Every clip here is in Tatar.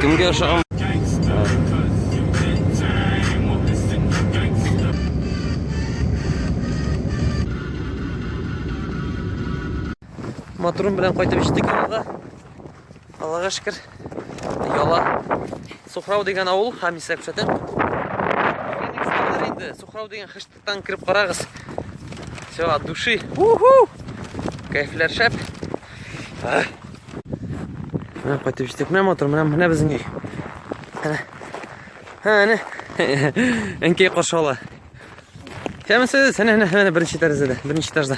Кемгә ошаган? Моторым белән кайтып җиттек авылга. Аллага шөкер. Яла. Сухрау дигән авыл, һәм исәп шәтен. Инде Сухрау дигән хыштыктан кирип карагыз. Все, от души. Уху! Кайфләр шәп. Менә кайтып җиттек. Менә мотор, менә менә безнең өй. Әнә. Һә, әнә. Әнкәй каршы ала. Кәмсез, әнә, әнә, әнә беренче тәрәзәдә, беренче этажда.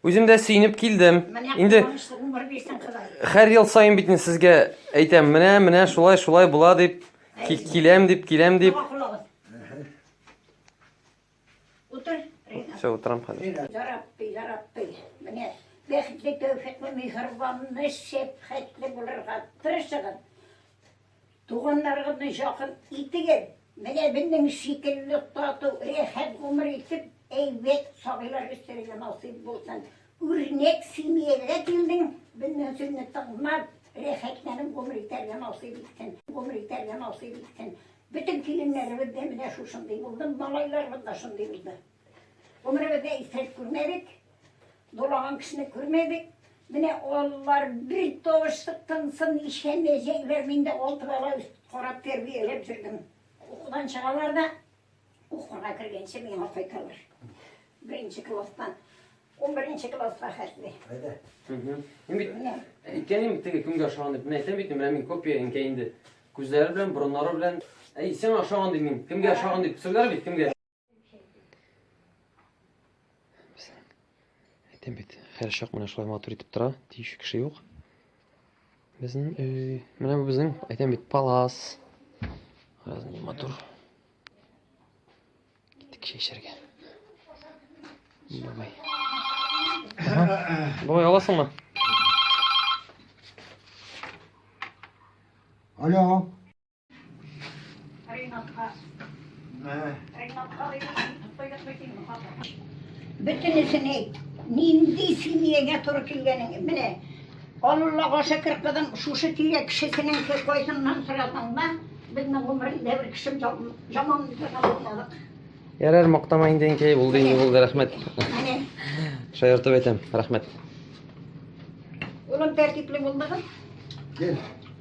Үзем дә сөенеп килдем. Инде һәр ел саен бит сезгә әйтәм, менә, менә шулай, шулай була дип, киләм дип, киләм дип. Утыр. Все, утрам хәзер. Ярабби, ярабби. Менә бәхетле, тәүфиклы, михрибанлы, шәфкатьле булырга тырышыгыз. Туганнарыгызны якын итегез. Менә безнең шикелле тату, рәхәт гомер итеп, әйбәт сабыйлар үстерергә насыйп булсын. Үрнәк семьягә килдең, безнең сүзне тыңлап, рәхәтләнеп гомер итәргә насыйп итсен, гомер итәргә насыйп итсен. Бөтен киленнәребез дә менә шушындый булды, малайларыбыз да шундый булды. Гомеребездә исерек күрмәдек. Дулаган кешене күрмәдек. Менә алар бер тавышлык тынсын ишәмәҗәкләр. Мин дә алты бала карап тәрбияләп җөрдем. Укудан чыгалар да укуга кергәнче миңа кайталар. Беренче класстан 11 класска хәтле. Әйдә. Мин бит менә әйткәнем теге кемгә ошаган дип. Мин әйтәм бит, менә мин копия инкә инде. Күзләре белән, борыннары белән. Әй, сиңа ошаган дим мин. Кемгә ошаган дип, сөйләр бит кемгә. Әйтәм бит, хәр чак менә шулай матур итеп тора, тиюче кеше юк. Безнең өй, менә бу безнең, әйтәм бит, палас. Раз не матур. Киттек чәчәргә. Бабай. Бабай аласыңмы? Алло. Бөтенесен әйт. Нинди семьягә туры килгәнең? Менә Аллага шөкер, кызым, шушы тирә кешесенең кайсыннан сорасаң да, безнең гомерендә бер кешем яман мисалга булмадык. Ярар, мактама инде инкәй, булды инде, булды, рәхмәт. Менә. Шаяртып әйтәм, рәхмәт. Улым тәртипле булдыгыз? Гел.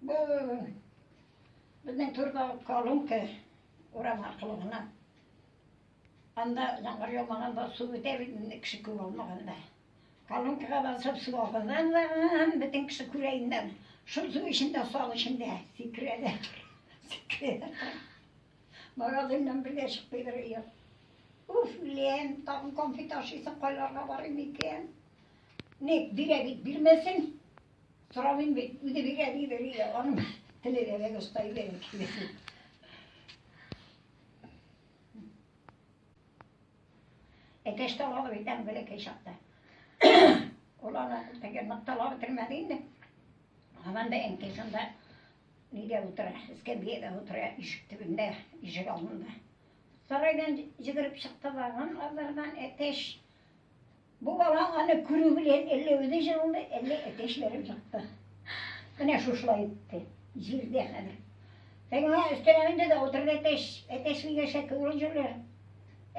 Бу безнең түрдә колонка урам аркылы гына. Анда яңгыр яумаганда су үтә бит инде кеше күп алмаганда. Колонкага басып су алганнан да һәм бөтен кеше күрә инде. Шул су эчендә сал эчендә сикерәләр. Сикерәләр. Магазиннан бергә чыкмыйдыр өйгә. Уф, лен, тагын конфет ашыйсың, кайларга барыйм икән? Ник бирә бит бирмәсен. Сорамыйм бит, үзе бирә ди, бирә. Аның теле дә бик оста иде. Әтәш тә алып әйтәм бәләкәй чакта. Ул аны теге ныкталап бетермәде инде. Анан да әнкәй шунда нидә утыра, эскәмиядә утыра, ишек төбендә, ишек алдында. Сарайдан җигереп чыкты да, анан азардан әтәш Бу бала аны күрү белән әллә үзе җылынды, әллә әтәчләрен чыкты. Менә шушылай итте. Җирдә хәзер. Сәгимә өстенә менде дә утырды әтәч. Әтәч мигәшә күрү җүләр.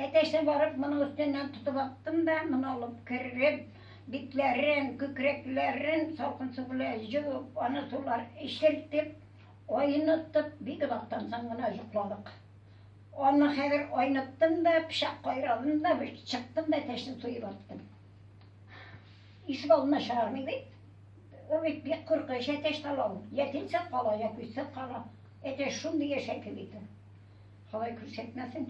Әтәчне барып моның өстеннән тотып аттым да, моны алып кереп, битләрен, күкрәкләрен салкын су белән җуып, аны сулар эчертеп, айнытып, бик озактан соң гына йокладык. Аны хәзер айныттым да, пычак кайрадым да, чыктым да, әтәчне туеп аттым. Ишек алдына чыгармый бит. Ул бит бик куркыныч әтәч талау. Я тилсә кала, я көйсә кала. Әтәч шундый яшәке бит ул. Ходай күрсәтмәсен.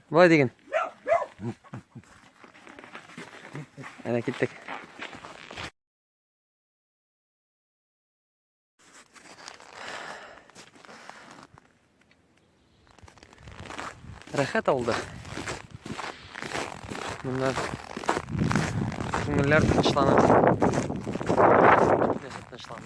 Болай диген. Әнә киттек. Рәхәт алды. Моннан күңелләр тынычлана. Тынычлана.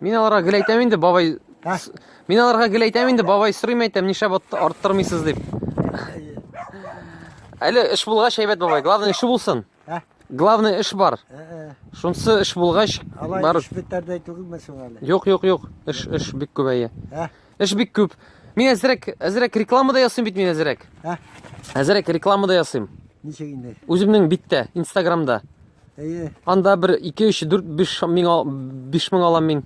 Мин аларга гел әйтәм инде, бабай. Мин аларга гел әйтәм инде, бабай сорыйм әйтәм, нишләп арттырмыйсыз дип. Әле эш булгач әйбәт бабай, главное эше булсын. Главное эш бар. Шунсы эш булгач, бар. Эш бетәрдәй түгелме соң әле? Юк, юк, юк. Эш, эш бик күбәя. Эш бик күп. Мин әзрәк, әзрәк реклама да ясыйм бит мин әзрәк. Ә? Әзрәк реклама да ясыйм. Ничек инде? Үземнең биттә, Инстаграмда. Әйе. Анда бер 2 3 4 5 мең 5 мең алам мин.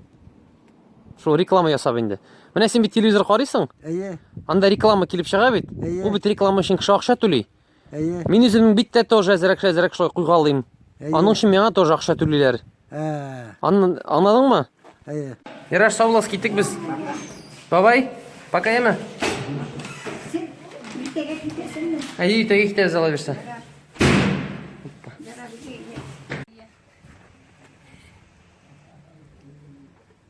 Шул реклама ясап инде. Менә син бит телевизор карыйсың? Әйе. Анда реклама килеп чыга бит. Әйе. Ул бит реклама өчен кеше акча түли. Әйе. Мин үземнең бит тә тоже әзрәк-әзрәк шулай куйга алыйм. Аның өчен миңа тоже акча түлиләр. Ә. Аңладыңмы? Әйе. Яраш, сау буласыз, киттек без. Бабай, пока яме. Әйе, өйтәгә китәбез ала бирсә.